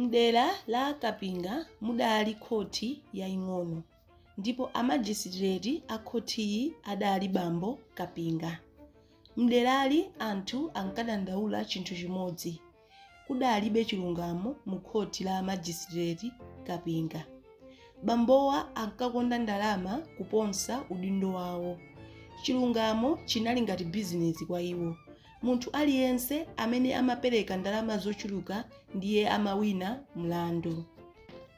M'dera la Kapinga mudali khoti yaing'ono ndipo amajisitileti a khotiyi adali bambo Kapinga. M'derali anthu ankadandaula chinthu chimodzi, kudalibe chilungamo mukhoti la amajisitileti Kapinga. Bambowa ankakonda ndalama kuposa udindo wawo. Chilungamo chinali ngati bizinesi kwa iwo. Munthu aliyense amene amapereka ndalama zochuluka ndiye amawina mlandu.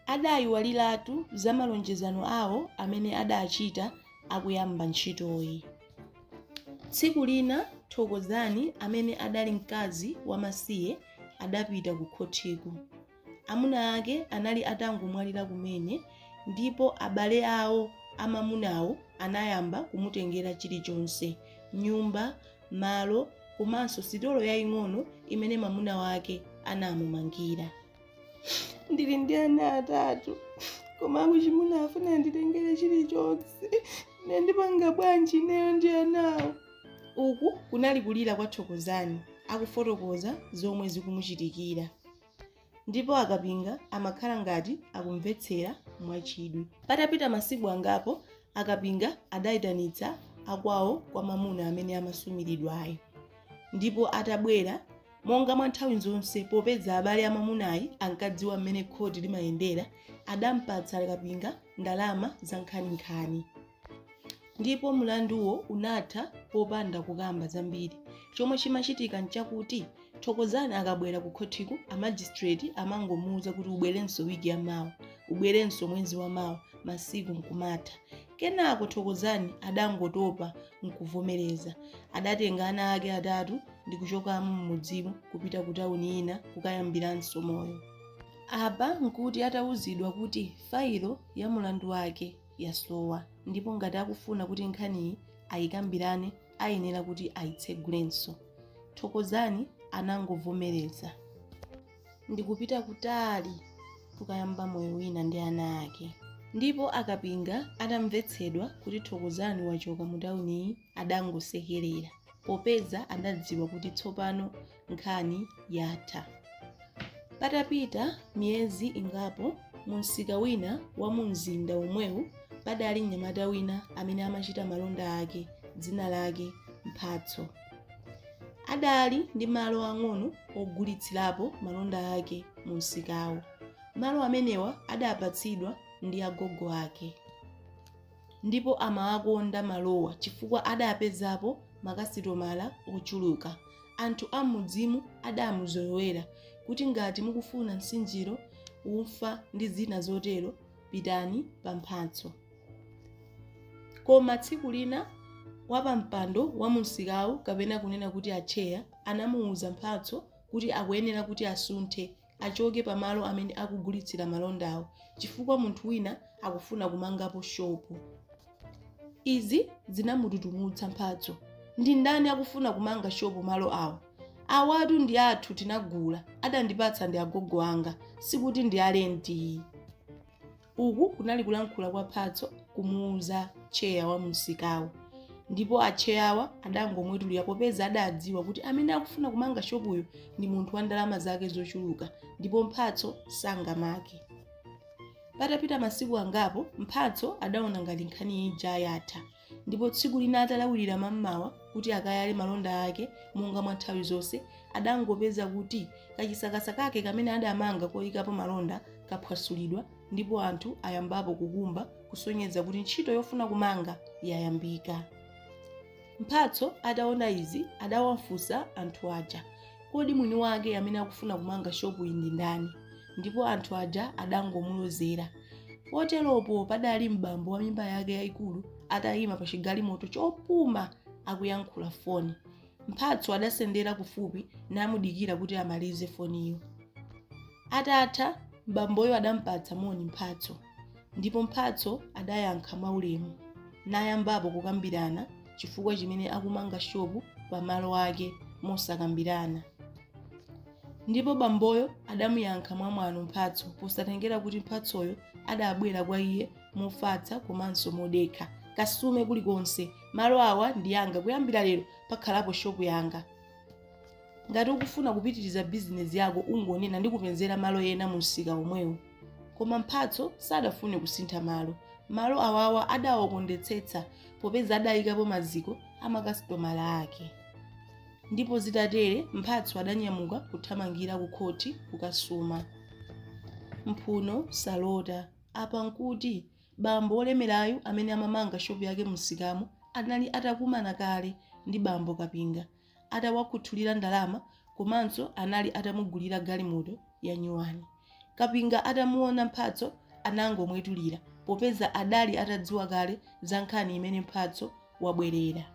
Adayiwaliratu za malonjezano awo amene adachita akuyamba ntchitoyi. Tsiku lina Thokozani amene adali mkazi wamasiye adapita kukhothiko. Amuna ake anali atangomwalira kumene, ndipo abale awo amamunawo anayamba kumutengera chilichonse, nyumba, malo komanso sitolo yaing'ono imene mwamuna wake anamumangira. Ndili ndi ana atatu, koma akuchimuna afuna anditengere chilichonse. Nde ndipanga bwanji ineyo ndi anawo? Uku kunali kulira kwa Thokozani akufotokoza zomwe zikumuchitikira. ndipo akapinga amakhala ngati akumvetsera mwachidwi. Patapita masiku angapo, akapinga adaitanitsa akwawo kwa mwamuna amene amasumiridwayo, ndipo atabwera, monga mwa nthawi zonse popeza abale amamunayi ankadziwa mmene khoti limayendera, adampatsa akapinga ndalama zankhaninkhani. ndipo mlanduwo unatha popanda kukamba zambiri chomwe chimachitika nchakuti thokozani akabwera ku khothiku amajistreti amangomuuza kuti ubwerenso wiki ya mawa ubwerenso mwezi wa mawa masiku nkumatha kenako thokozani adangotopa nkuvomereza adatenga ana ake atatu ndi kuchokamo m'mudzimu kupita ku tawuni ina kukayambiranso moyo apa nkuti atawuzidwa kuti failo ya mulandu wake yasowa ndipo ngati akufuna kuti nkhaniyi ayikambirane ayenera kuti ayitsegulenso. Thokozani anangovomereza. Ndikupita kutali kukayamba moyo wina ndi ana ake. Ndipo a Kapinga atamvetsedwa kuti Thokozani wachoka mu tawuniyi adangosekerera popeza adadziwa kuti tsopano Nkhani yatha. Patapita miyezi ingapo, mumsika wina wa mumzinda omwewu padali mnyamata wina amene amachita malonda ake, dzina lake Mphatso. Adali ndi malo ang'ono ogulitsirapo malonda ake mumsikawo. Malo amenewa adapatsidwa ndi agogo ake. Ndipo amawakonda malowa chifukwa adapezapo makasitomala ochuluka. Anthu a m'mudzimu adaamuzolowera kuti ngati mukufuna nsinjiro, ufa ndi zina zotero, pitani pa Mphatso. Koma tsiku lina wapampando wa mumsikawu kapena kunena kuti atcheya anamuuza Mphatso kuti akuyenera kuti asunthe achoke pa malo amene akugulitsira malondawo chifukwa munthu wina akufuna kumangapo shopu. Izi zinamututumutsa Mphatso. Ndi ndani akufuna kumanga shopu malo awo? Awatu ndi athu tinagula, adandipatsa ndi agogo anga, sikuti ndi a lenti. Uku kunali kulankhula kwa Mphatso kumuuza tcheya wa mumsikawo ndipo atcheyawa adangomwetulira popeza adadziwa kuti amene akufuna kumanga shopuyo ndi munthu wa ndalama zake zochuluka ndipo Mphatso sangamake. Patapita masiku angapo, Mphatso adaona ngati nkhani ija yatha Ndipo tsiku lina atalawirira mam'mawa kuti akayale malonda ake monga mwa nthawi zonse, adangopeza kuti kachisakasa kake kamene adamanga koyikapo malonda kaphwasulidwa ndipo anthu ayambapo kukumba kusonyeza kuti ntchito yofuna kumanga yayambika. Mphatso ataona izi adawafunsa anthu aja, Kodi mwini wake amene akufuna kumanga shopuyi ndi ndani? ndipo anthu aja adangomulozera. Poteropo padali m'bambo wa mimba yake yayikulu atayima pa chigalimoto chopuma akuyankhula foni. Mphatso adasendera kufupi namudikira kuti amalize foniyo. Atatha, m'bamboyo adampatsa moni Mphatso ndipo Mphatso adayankha mwaulemu nayambapo kukambirana chifukwa chimene akumanga shopu pa malo ake mosakambirana. ndipo bamboyo adamuyankha mwamwano Mphatso posatengera kuti Mphatsoyo adabwera kwa iye mofatsa komanso modekha kasume kulikonse malo awa ndi anga kuyambira lero pakhalapo shopu yanga ngati ukufuna kupitiriza bizinesi yako ungonena ndikupezera malo ena mu msika omwewu koma Mphatso sadafune kusintha malo malo awawa adawakondetsetsa popeza adayikapo maziko a makasitomala ake Ndipo zitatere, Mphatso adanyamuka kuthamangira kukhoti kukasuma. Mphuno salota. Apa n'kuti bambo wolemerayu amene amamanga shopu yake mumsikamo anali atakumana kale ndi bambo Kapinga, atawakhuthulira ndalama komanso anali atamugulira galimoto yanyuwani. Kapinga atamuona Mphatso anangomwetulira popeza adali atadziwa kale za nkhani imene Mphatso wabwerera.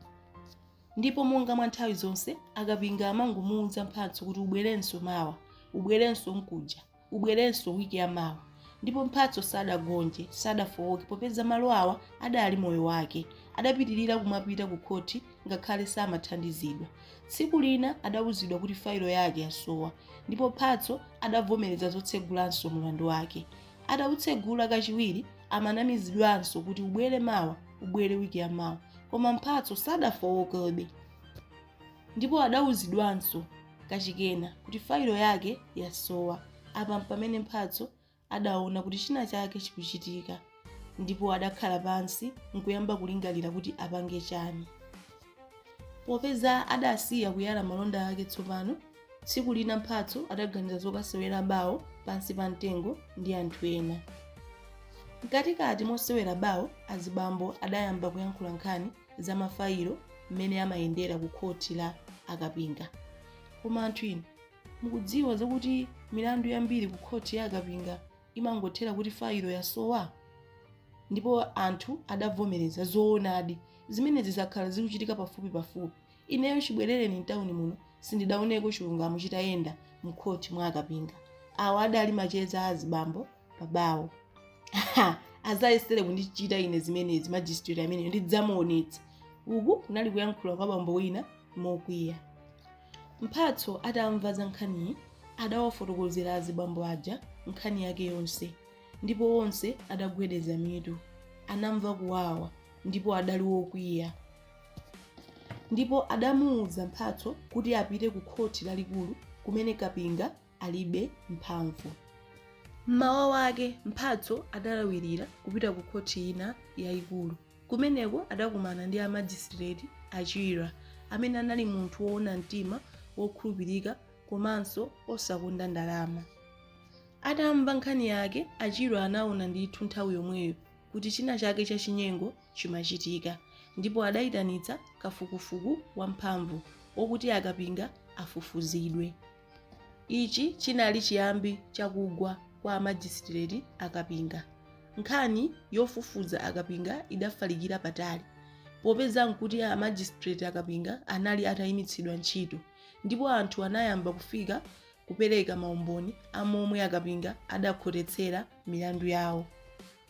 Ndipo monga mwa nthawi zonse, akapinga amangomuuza Mphatso kuti ubwerenso mawa, ubwerenso nkuja, ubwerenso wiki ya mawa. Ndipo Mphatso sadagonje, sadafooke popeza malo awa adali moyo wake. Adapitirira kumapita ku khoti ngakhale samathandizidwa. Tsiku lina adauzidwa kuti failo yake yasowa ndipo Mphatso adavomereza zotsegulanso mulandu wake. Atautsegula kachiwiri, amanamizidwanso kuti ubwere mawa ubwere wiki ya mawa koma mphatso sadafowokebe ndipo adawuzidwanso kachikena kuti failo yake yasowa apa mpamene mphatso adaona kuti china chake chikuchitika ndipo adakhala pansi nkuyamba kulingalira kuti apange chani popeza adasiya kuyala malonda ake tsopano Tsiku lina Mphatso adaganiza zokasewera bawo pansi pa mtengo ndi anthu ena. Mkatikati mosewera bawo, azibambo adayamba kuyankhula nkhani za mafayilo mmene amayendera ku khoti la akapinga. Koma anthu inu, mukudziwa zakuti milandu yambiri ku khoti ya akapinga imangothera kuti fayilo yasowa? Ndipo anthu adavomereza, zoonadi, zimenezi zakhala zikuchitika pafupipafupi. Ineyo chibwerereni m'tauni muno sindidaoneko chilungamo chitayenda m'khoti mwa akapinga. Awa adali macheza a azibambo pa bawo. Ha! Azayesere kundichita ine zimenezi majisitireti ameneyo ndidzamuonetsa! Uku kunali kuyankhula kwa bambo wina mokwiya. Mphatso atamva za nkhaniyi adawafotokozera azibambo aja nkhani yake yonse ndipo onse adagwedeza mitu. Anamva kuwawa ndipo adali wokwiya. ndipo adamuuza mphatso kuti apite ku khoti lalikulu kumene kapinga alibe mphamvu mmawa wake mphatso adalawirira kupita ku khoti ina yayikulu kumeneko adakumana ndi amajisitireti achira amene anali munthu woona mtima wokhulupirika komanso osakonda ndalama atamva nkhani yake achira anaona ndithu nthawi yomweyo kuti china chake chachinyengo chimachitika ndipo adayitanitsa kafukufuku wa mphamvu okuti akapinga afufuzidwe. Ichi chinali chiyambi cha kugwa kwa amajisitireti a kapinga. Nkhani yofufuza akapinga idafalikira patali popeza nkuti a majisitireti a kapinga anali atayimitsidwa ntchito ndipo anthu anayamba kufika kupereka maumboni a momwe akapinga adakhotetsera milandu yawo.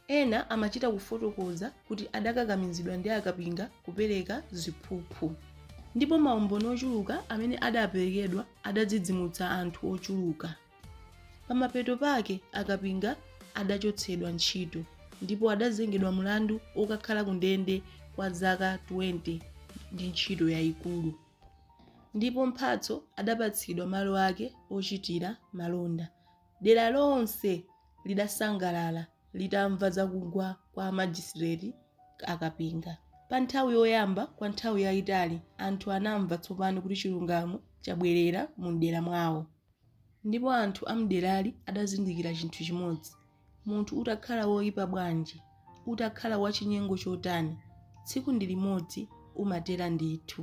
Ena amachita kufotokoza kuti adakakamizidwa ndi a Kapinga kupereka ziphuphu, ndipo maumboni ochuluka amene adaperekedwa adadzidzimutsa anthu ochuluka. Pamapeto pake a Kapinga adachotsedwa ntchito ndipo adazengedwa mlandu wokakhala ku ndende kwa zaka 20 ndi ntchito yaikulu, ndipo Mphatso adapatsidwa malo ake ochitira malonda Dera lonse lidasangalala litamva za kugwa kwa a majisitireti a Kapinga. Pa nthawi yoyamba kwa nthawi yaitali anthu anamva tsopano kuti chilungamo chabwerera mu dera mwawo. Ndipo anthu a m'derali adazindikira chinthu chimodzi, munthu utakhala woipa bwanji, utakhala wachinyengo chotani, tsiku ndi limodzi umatera ndithu.